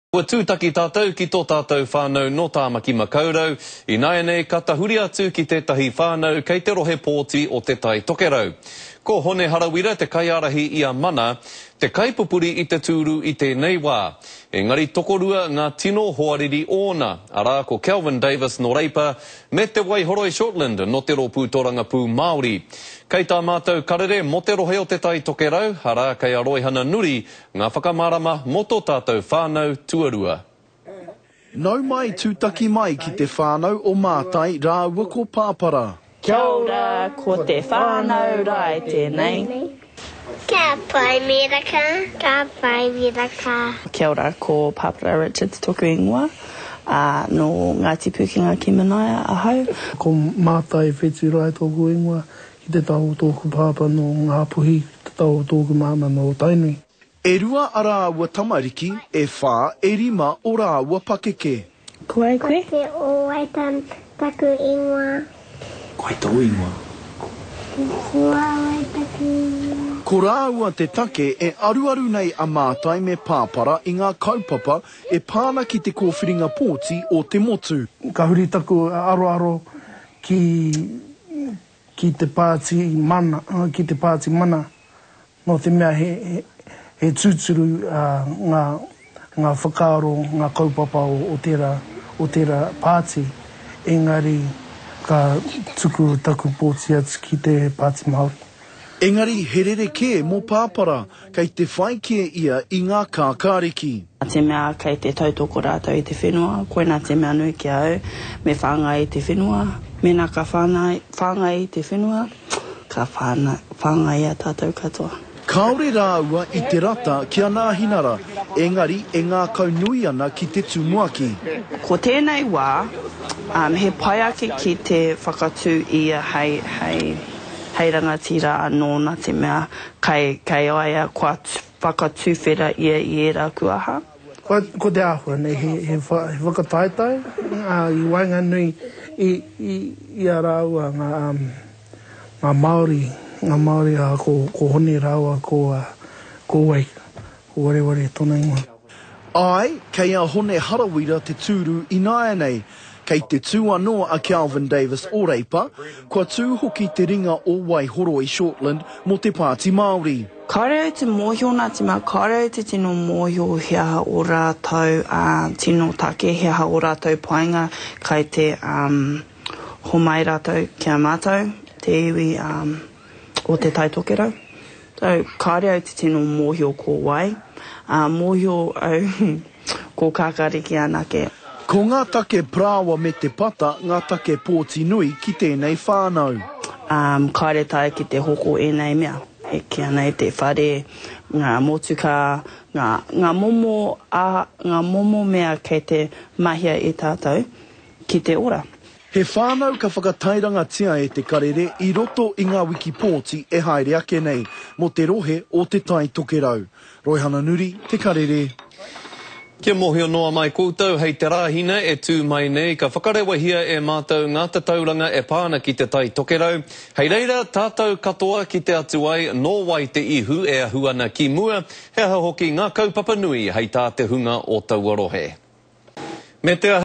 Kua tūtaki tātou ki tō tātou whānau nō Tāmaki Makaurau, ināianei ka tahuri atu ki tētahi whānau kei te rohe pōti o Te Tai Tokerau. Ko Hone Harawira te kaiārahi i a Mana, te kaipupuri i te tūru i tēnei wā. Engari tokorua ngā tino hoariri ōna, arā ko Kelvin Davis nō Reipa me Te Waihoroi Shortland nō te Rōpū Torangapū Māori. Kei tā mātou karere mō te rohe o Te Tai Tokerau, arā kei a Roihana Nuri Ngā whakamārama mō tō tātou whānau tuarua. Nau mai, tūtaki mai ki te whānau o Mātai rāua ko Pāpara. Kia ora, ko te whānau Rae tēnei. Kia pai miraka, ka pai miraka. Kia ora, ko Pāpara Richards tōku ingoa, ā, nō Ngāti Pūkenga ki Manaia ahau. Ko Mātai Whetu Rae tōku ingoa, Ki te tao o tōku pāpā nō Ngāpuhi, ki te tao o tōku māmā nō Tainui. E rua a rāua tamariki, e whā, e rima o rāua pakeke. Ko ai koe? Ko Te Owaita taku ingoa. Ko ai tōu ingoa? Ko Huawei taku ingoa. Ko rāua te take e aruaru nei a Mātai me Pāpara i ngā kaupapa e pā ana ki te kōwhiringa pōti o te motu. Ka huri taku aroaro ki ki te pāti mana ki te pāti mana nō te mea he he tūturu ngā ngā whakaaro ngā kaupapa o tērā o tērā pāti engari ka tuku taku pōti atu ki te pāti Māori Engari he rerekē mō Pāpara, kei te whai kē ia i ngā kākāriki. Nā te mea kei te tautoko rātou i te whenua, koinā te mea nui ki a au, me whāngai i te whenua. Mēnā ka whāngai i te whenua, ka whāngai i a tātou katoa. Kāore rāua i te rata ki a Nāhinara, engari e ngākau nui ana ki te tumuaki. Ko tēnei wā, he pai ake ki te whakatū ia hei. hei rangatira anō nā te mea kai, kai a ia kua whakatuwhera ia i ērā kuaha. Ko, ko te āhua nei he, he, wha, he whakataetae ā, i waenganui i, i, i a rāua ngā, um, ngā Māori, ngā Māori ā, ko, ko Hone rāua ko, uh, ko Wei. Ko Wareware tona ingoa. Āe, kei a Hone Harawira te tūru ināianei. Kei te tū anō a Kelvin Davis o Reipa, kua tū hoki te ringa o Waihoro i Shortland mō te Pāti Māori. Kāore au te mōhio Ngāti Mā, kāore au te tino mōhio he aha ō rātou tino take, he aha ō rātou painga kai te homai rātou ki a mātou, te iwi o Te Tai Tokerau. Tau, kāore au te tino mōhio ko wai, ā, mōhio au ko Kākāriki anake. Ko ngā take parāoa me te pata ngā take pōti nui ki tēnei whānau. Ā, kāore tae ki te hoko ēnei mea, e kīa nei te whare, ngā motukā, ngā, ngā momo, ā, ngā momo mea kei te mahia e tātou ki te ora. He whānau ka whakatairangatia e Te Karere i roto i ngā wiki pōti e haere ake nei, mō te rohe o Te Tai Tokerau. Roihana Nuri, Te Karere. Kia mōhio noa mai koutou hei te Rāhina e tū mai nei ka whakarewahia e mātou ngā tatauranga e pā ana ki Te Tai Tokerau, hei reira tātou katoa kite atu ai nō wai te ihu e ahu ana ki mua, he aha hoki ngā kaupapa nui hei tā te hunga o taua rohe. Me te.